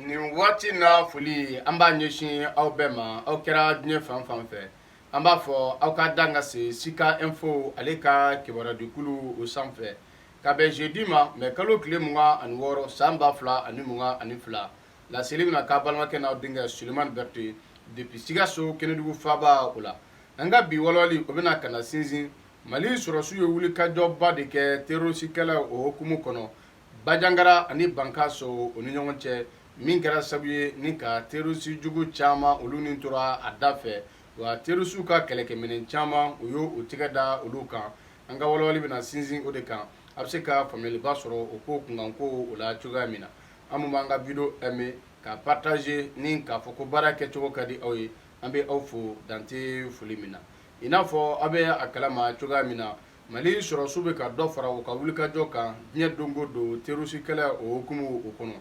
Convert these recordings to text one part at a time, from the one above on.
nin waati in foli an b'a ɲɛsin aw bɛɛ ma aw kɛra diɲɛ fan fan fɛ an b'a fɔ aw ka dan ka se sika info ale ka kibaruyadikulu o sanfɛ ka bɛn jeudi ma mɛ kalo tile mugan ani wɔɔrɔ san ba fila ani mugan ani fila laseli bɛna k'aw balimakɛ n'aw denkɛ sulemani berete depuis sikaso kɛnɛdugu faaba o la an ka bi walawali o bɛna ka na sinsin mali sɔrɔsiw ye wulikajɔba de kɛ terorisikɛlɛ o hukumu kɔnɔ Bajangara ani Bankasi o ni ɲɔgɔn cɛ min kɛra sabu ye ni ka terroriste jugu caman olu ni tora a dafɛ wa terroriste u ka kɛlɛkɛminɛn caman u y'u tigɛ da olu kan an ka wala-walali bɛna sinsin o de kan aw bɛ se ka faamuyaliba sɔrɔ o ko kunkanko o la cogoya min na aw min b'an ka video aimer ka partager ni k'a fɔ ko baara kɛcogo ka di aw ye an bɛ aw fo dan tɛ foli min na i n'a fɔ aw bɛ a kalama cogoya min na mali sɔrɔdasiw bɛ ka dɔ fara u ka wulikajɔ kan diɲɛ don o don terroristkɛlɛ o hukumu o kɔnɔ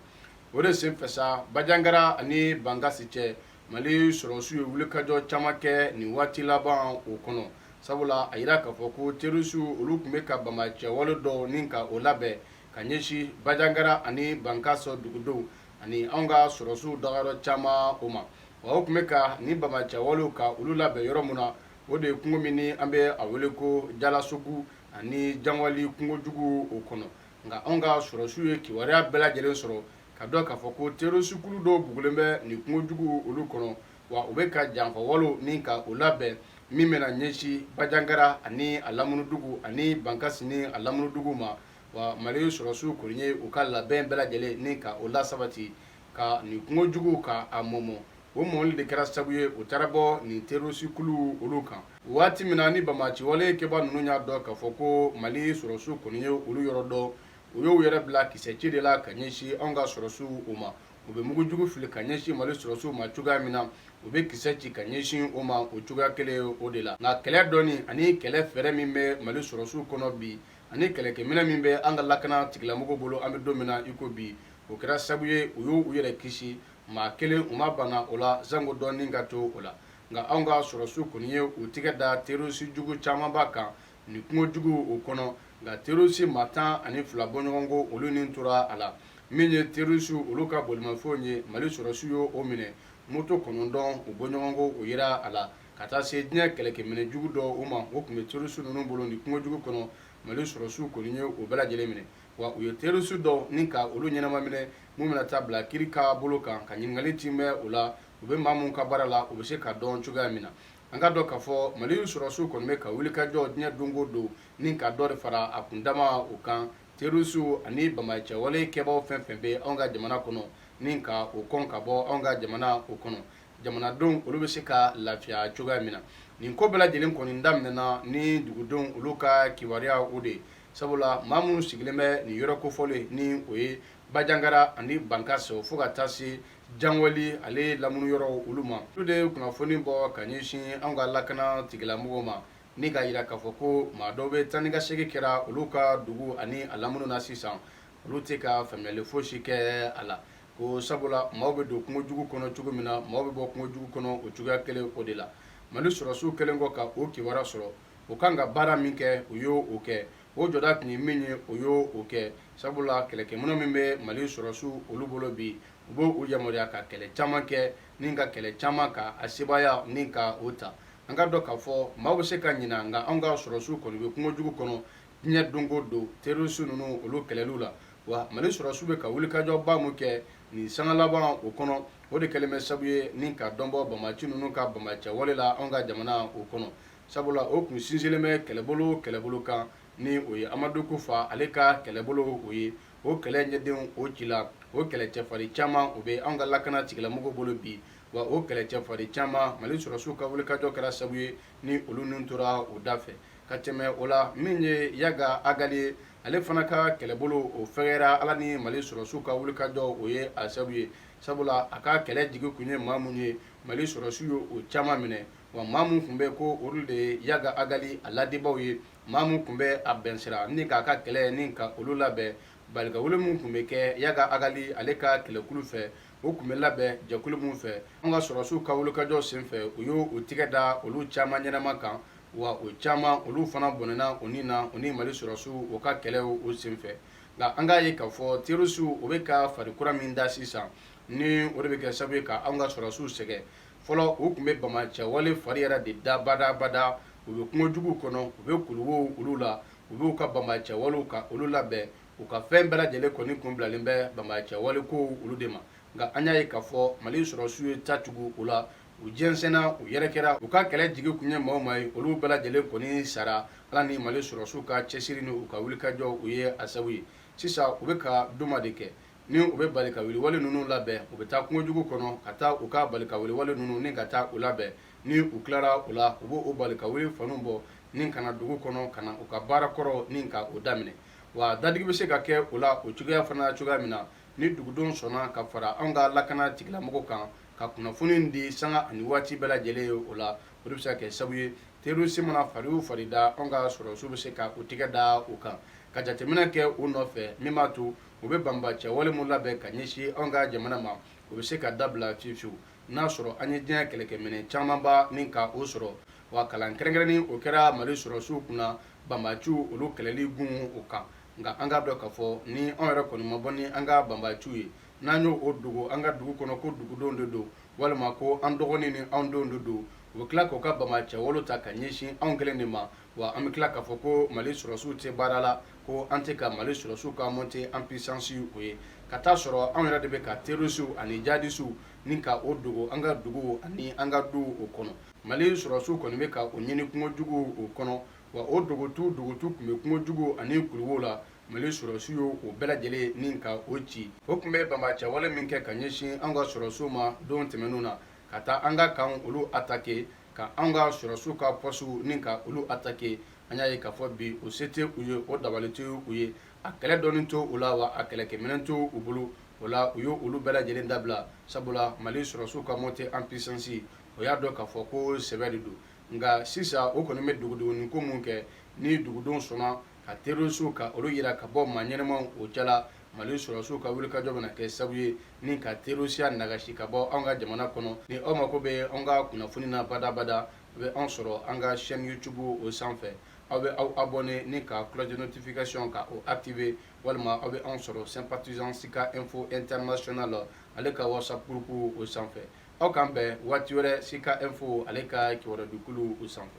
o de senfɛ sa bajangara ani bankasi cɛ mali sɔrɔdasiw ye wulikajɔ caman kɛ nin waati laban o kɔnɔ sabula a jira k'a fɔ ko terroristes olu tun bɛ ka banbagaciwale dɔw ni ka o labɛn ka ɲɛsin bajangara ani bankasi dugudenw ani anw ka sɔrɔdasiw dagayɔrɔ caman o ma wa u tun bɛ ka nin banbagaciwalew ka olu labɛn yɔrɔ min na o de ye kungo min ni an bɛ a wele ko jalasogu ani jangwali kungojugu o kɔnɔ nka anw ka sɔrɔsiw ye kibaruya bɛɛ lajɛlen sɔrɔ ka dɔn k'a fɔ ko terroristes-kulu dɔw bugulen bɛ nin kungojugu olu kɔnɔ wa u bɛ ka janfawalew ni ka o labɛn min bɛna ɲɛsin Bajangara ani a lamunudugu ani Bankasi ni a lamunudugu ma wa Mali sɔrɔsiw kɔni ye u ka labɛn bɛɛ lajɛlen ni ka o lasabati ka nin kungojugu ka a mɔmɔ o mɔmɔli de kɛra sabu ye u taara bɔ nin terroristes-kuluw olu kan waati min na ni banbagaciwale kɛbaa ninnu y'a dɔn k'a fɔ ko Mali sɔrɔdasiw kɔni ye olu yɔrɔ dɔn u y'u yɛrɛ bila kisɛci de la ka ɲɛsin anw ka sɔrɔdasiw o ma u bɛ mugujugu fili ka ɲɛsin Mali sɔrɔdasiw ma cogoya min na u bɛ kisɛ ci ka ɲɛsin o ma o cogoya kelen o de la nka kɛlɛ dɔnni ani kɛlɛ fɛɛrɛ min bɛ Mali sɔrɔdasiw kɔnɔ bi ani kɛlɛkɛminɛn min bɛ an ka lakana tigilamɔgɔ bolo an bɛ don min na i ko bi o kɛra sabu ye u y' u yɛrɛ kisi maa kelen u ma bana o la janko dɔ ni ka to o la nka anw ka sɔrɔsiw kɔni ye u tɛgɛ da terisijugu camanba kan nin kungojugu o kɔnɔ nka terisi maa tan ani fila bɔɲɔgɔnko olu ni tora a la min ye terisi olu ka bolimafɛnw ye mali sɔrɔsiw ye o minɛ moto kɔnɔntɔn o bɔɲɔgɔnko o jira a la ka taa se diɲɛ kɛlɛkɛminɛn jugu dɔw ma o tun bɛ terroriste ninnu bolo nin kungo jugu kɔnɔ mali sɔrɔdasiw kɔni ye o bɛɛ lajɛlen minɛ wa u ye terroriste dɔw ni ka olu ɲɛnama minɛ minnu bɛna taa bila kiri ka bolo kan ka ɲininkali tin bɛ o la u bɛ maa minnu ka baara la u bɛ se ka dɔn cogoya min na an k'a dɔn k'a fɔ mali sɔrɔdasiw kɔni bɛ ka wulikajɔ diɲɛ don o don ni ka dɔ de fara a kundama o kan terroriste ani banbaanciya wale kɛbaaw fɛn fɛn bɛ anw ka jamana kɔnɔ ni ka o kɔn ka bɔ anw ka jamana o kɔnɔ jamanadenw olu bɛ se ka lafiya cogoya min na nin ko bɛɛ lajɛlen kɔni daminɛna ni dugudenw olu ka kibaruya o de ye sabula maa minnu sigilen bɛ nin yɔrɔ kofɔlen ni o ye banjagara ani bankasi fo ka taa se janweli ale lamini yɔrɔ olu ma olu de ye kunnafoni bɔ ka ɲɛsin an ka lakana tigilamɔgɔw ma ni k'a jira k'a fɔ ko maa dɔw bɛ taa ni ka segin kɛra olu ka dugu ani a lamini na sisan olu tɛ ka faamuyali fosi kɛ a la ko sabula maaw bɛ don kungo jugu kɔnɔ cogo min na maaw bɛ bɔ kungo jugu kɔnɔ o cogoya kelen o de la mali sɔrɔdasiw kɛlen kɔ ka o kibaruya sɔrɔ o kan ka baara min kɛ u y'o kɛ o jɔda tun ye min ye u y'o kɛ sabula kɛlɛkɛminɛn min bɛ mali sɔrɔdasiw olu bolo bi o b'u yamaruya ka kɛlɛ caman kɛ ni ka kɛlɛ caman ka a sebaaya ni ka o ta an k'a dɔn k'a fɔ maaw bɛ se ka ɲina nka anw ka sɔrɔdasiw kɔni bɛ kungo jugu kɔnɔ diɲɛ don o don terrorisi ninnu olu kɛlɛliw la wa mali sɔrɔdasiw bɛ ka wulikajɔba min kɛ nin sanga laban o kɔnɔ o de kɛlen bɛ sabu ye ni ka dɔ bɔ banbaanci ninnu ka banbaanciya wale la anw ka jamana o kɔnɔ sabula o tun sinsinnen bɛ kɛlɛbolo kɛlɛbolo kan ni o ye amadu kufa ale ka kɛlɛbolo o ye o kɛlɛ jɛdenw o cila o kɛlɛ cɛfarin caman o bɛ anw ka lakana tigilamɔgɔ bolo bi wa o kɛlɛ cɛfarin caman mali sɔrɔdasiw ka wulikajɔ kɛra sabu ye ni olu niw tora o dafɛ ka tɛmɛ o la min ye Yaga Agali ye, ale fana ka kɛlɛbolo o fɛgɛyara Ala ni Mali sɔrɔdasiw ka wulikajɔ o ye a sabu ye, sabula a ka kɛlɛ jigi kun ye maa minnu ye, Mali sɔrɔdasiw ye o caman minɛ, wa maa minnu tun bɛ yen ko olu de ye Yaga Agali a ladibaaw ye, maa minnu tun bɛ a bilasira ni k'a ka kɛlɛ ni ka olu labɛn, balikawuli minnu tun bɛ kɛ Yaga Agali ale ka kɛlɛkulu fɛ, o tun bɛ labɛn jɛkulu min fɛ an ka sɔrɔdasiw ka wulikajɔ senfɛ u y'u tɛgɛ da olu caman ɲɛnama kan wa u caman olu fana bɔnɛna u ni na u ni mali sɔrɔdasiw u ka kɛlɛ o senfɛ nka an k'a ye k'a fɔ terɔrisiw u bɛ ka fari kura min da sisan ni o de bɛ kɛ sabu ye ka an ka sɔrɔdasiw sɛgɛn fɔlɔ u tun bɛ banbaanciya wale fari yɛrɛ de da badabada u bɛ kungojuguw kɔnɔ u bɛ kuluwow olu la u b'u ka banbaanciya walew ka olu labɛn u ka fɛn bɛɛ lajɛlen kɔni kun bilalen bɛ banbaacɛ wale kow olu de ma nka an y'a ye k'a fɔ mali sɔrɔsiw ye ta tugu u la u jɛnsɛnna u yɛrɛkɛra u ka kɛlɛ jigi tun ye maa o maa ye olu bɛɛ lajɛlen kɔni sara ala ni mali sɔrɔsiw ka cɛsiri ni u ka wulikajɔ u ye a sabu ye sisan u bɛ ka jumɛn de kɛ ni u bɛ balikawuli wale ninnu labɛn u bɛ taa kungojugu kɔnɔ ka taa u ka balikawuli wale ninnu ni ka taa u labɛn ni u tilara u la u bɛ o balikawuli fɛnw bɔ ni ka na dugu kɔnɔ ka na u ka baara kɔrɔ ni ka o daminɛ wa dadigi bɛ se ka kɛ o la o cogoya fana cogoya min na ni dugudenw sɔnna ka fara an ka lakana tigilamɔgɔw kan ka kunnafoni di sanga ani waati bɛɛ lajɛlen ye o la o de bɛ se ka kɛ sabu ye terroriste mana fari o fari da an ka sɔrɔdasiw bɛ se ka u tigɛ da u kan ka jateminɛ kɛ u nɔfɛ min b'a to u bɛ banbaacɛ wale min labɛn ka ɲɛsin an ka jamana ma o bɛ se ka dabila fiyewu fiyewu n'a sɔrɔ an ye diɲɛ kɛlɛkɛminɛn camanba ni ka o sɔrɔ wa kalan kɛrɛnkɛrɛnnen o kɛra mali sɔrɔsiw kunna banbaciw olu kɛlɛli gun o kan nka an k'a dɔn k'a fɔ ni anw yɛrɛ kɔni ma bɔ ni an ka banbaciw ye n'an y'o dogo an ka dugu kɔnɔ ko dugudenw de don walima ko an dɔgɔnin ni anw denw de don u bɛ tila k'u ka banbaacɛ wale ta ka ɲɛsin anw kelen de ma wa an bɛ tila k'a fɔ ko mali sɔrɔsiw tɛ baara la ko an tɛ ka mali sɔrɔsiw ka montée en puissance o ye ka t'a sɔrɔ anw yɛrɛ de bɛ ka terisiw ani jadisiw ni ka o dogo an ka duguw ani an ka duw o kɔnɔ mali sɔrɔdasiw kɔni bɛ ka o ɲini kungojugu o kɔnɔ wa o dogotu dogotu tun bɛ kungojugu ani kuluwow la mali sɔrɔdasiw ye o bɛɛ lajɛlen ni ka o ci o tun bɛ banbaacɛwale min kɛ ka ɲɛsin an ka sɔrɔdasiw ma don tɛmɛnenw na ka taa an ka kan olu atake ka an ka sɔrɔdasiw ka pɔsiw ni ka olu atake an y'a ye k'a fɔ bi o se tɛ u ye o dabali tɛ u ye a kɛlɛ dɔnni tɛ u la wa a kɛlɛkɛminɛn tɛ u bolo o la u ye olu bɛɛ lajɛlen dabila sabula mali sɔrɔdasiw ka montée en puissance o y'a dɔn k'a fɔ ko sɛbɛ de don nka sisan o kɔni bɛ dogodogonin ko min kɛ ni dugudenw sɔnna ka terisiw ka olu jira ka bɔ maa ɲɛnamaw o cɛla mali sɔrɔdasiw ka wulikajɔ bɛna kɛ sabu ye ni ka terisiya nagasi ka bɔ anw ka jamana kɔnɔ ni aw mako bɛ anw ka kunnafoni na badabada aw bɛ anw sɔrɔ an ka chaîne youtube o sanfɛ aw bɛ aw abonner ni ka cloche de notification ka o activer walima aw bɛ anw sɔrɔ sympathisant sika info international ale ka whatsapp groupe o sanfɛ aw k'an bɛn waati wɛrɛ sika info ale ka kibarudikulu o sanfɛ